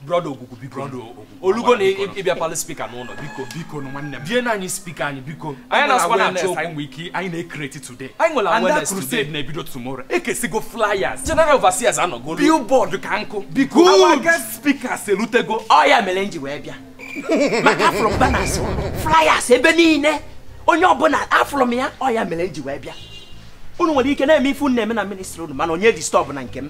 brọda ogwugwu biko olugo na ịbịa palụ spika n'ụlọ biko biko nwanne m bie na anyị spika anyị biko anyị na-asụkwa na achọ anyị nwere ike anyị na-ekreti today anyị nwere awareness today na-ebido tomorrow ekesigo flyers general overseers anụgo billboard ka nkụ biko our guest speakers elutego ọ ya mere nji wee bịa maka afụrụ m banners flyers ebe niile onye ọbụla afụrụ m ya ọ ya mere nji wee bịa unu nwere ike na-eme ife unu na-eme na ministri unu mana onye distọbụna nke m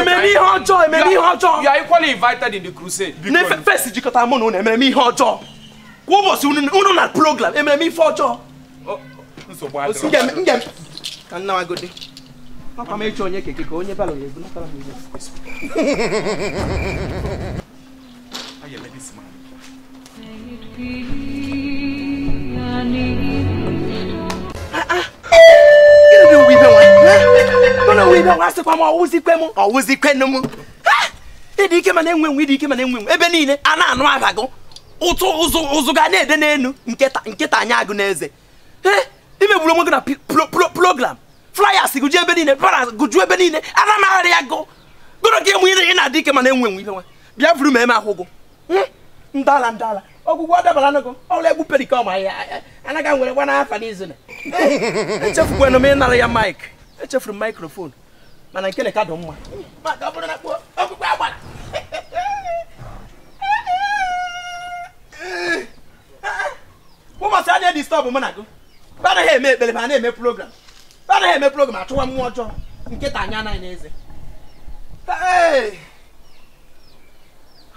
ememe ihe ọjọọ ememe ihe ọjọọ you are equally invited in the crusade n'ife first jikọta mụ na unu ememe ihe ọjọọ kwa ụbọchị unu na program ememe ife ọjọọ ka m nawagodi papa m ịchọ onye keke ka onye barrow ya-ebunatara m ịdị ike mana enwe enwe ịdị ike mana enwe enwe ebe niile a na-anụ aha gụ ụzụ gụ na-ede n'enu nkịta anya agụ n'eze imegburu onwe gị na program flyers gụ ju ebe niile banners gụ ju ebe niile ana m arịa ya gụ gụrụ gị enwe ị na-adị ike mana enwe enwe ibe nwa bịa vuru ma eme ahụgụ ndala ndala ogwugwu dabara n'ego ọrụ egbu perikọm ahịa anaghị nwere gwa n'afa n'izu na echefukwana m ịnara ya maik echefuru m maikrofon mana nke ka dị mma maka ọ bụrụ na ogwugwu agbara ụbọchị a na-edistọbụ mụ na gị anaghị eme ekpere ma a na-eme program anaghị eme program achụwa mmụọ ọjọọ nkịta anya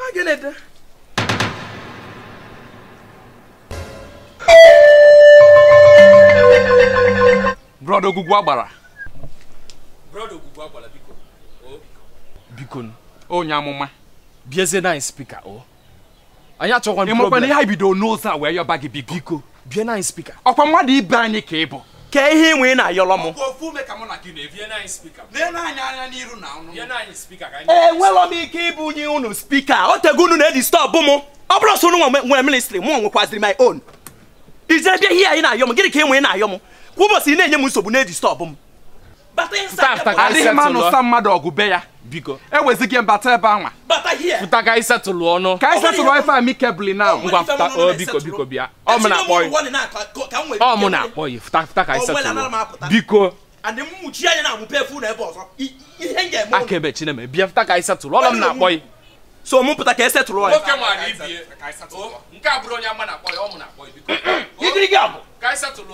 agụ n'eze brọda ogwugwu agbara biko onye amụma biezie na spika o anyị achọkwa ị makwa na ihe anyị bidoro n'ụzọ a wee yọba gị biko biko bie na anyị spika ọkwa mmadụ ibe anyị ka ị bụ kee ihe i nwe ị na-ayọrọ m enwelọ m ike ibunye unu spika o tego unu na-edistọbụ m ọ bụrọ sọ unu nwe- nwere ministri mụ nwekwaziri my own ijere bịa ihe anyị na-ayọ m gịnị ka i nwe ị na-ayọ m kwa ụbọchị ị na-enye m nsogbu na-edistọbụ m adịghị m anụsa mmadụ ọgụ be ya biko ewezighị m bata ebe anwa fụta ka anyị setụlụ ọnụ ka anyị setụlụ ife amicably now ngwa fụta o biko biko bịa ọ mụ na-akpọ ya ọ mụ na-akpọ ya fụta fụta ka anyị setụlụ biko akaebe chineme bịa fụta ka anyị setụlụ ọlọ m na-akpọ ya so mụ pụta ka e setụlụ ya nke a bụrụ onye ama na-akpọ ya ọ mụ na-akpọ ya biko ka anyị setụlụ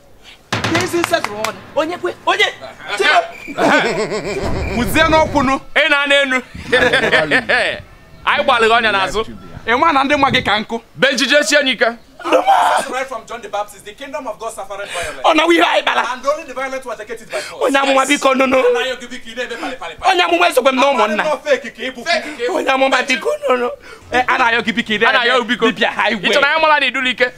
kwuzie n'ọkwụnụ ị na-ana enu anyị gbalịghị ọnya n'azụ ị ma na ndị nwa gị ka nkụ be njije sie n'ike ọ na ihe anyị bara onye amụma biko nụnụ onye amụma esokwe m na ụmụnna onye amụma biko nụnụ a na-ayọ gị biko ị na-ayọ biko dibịa ha igwe ị chọrọ anyị mara na idulike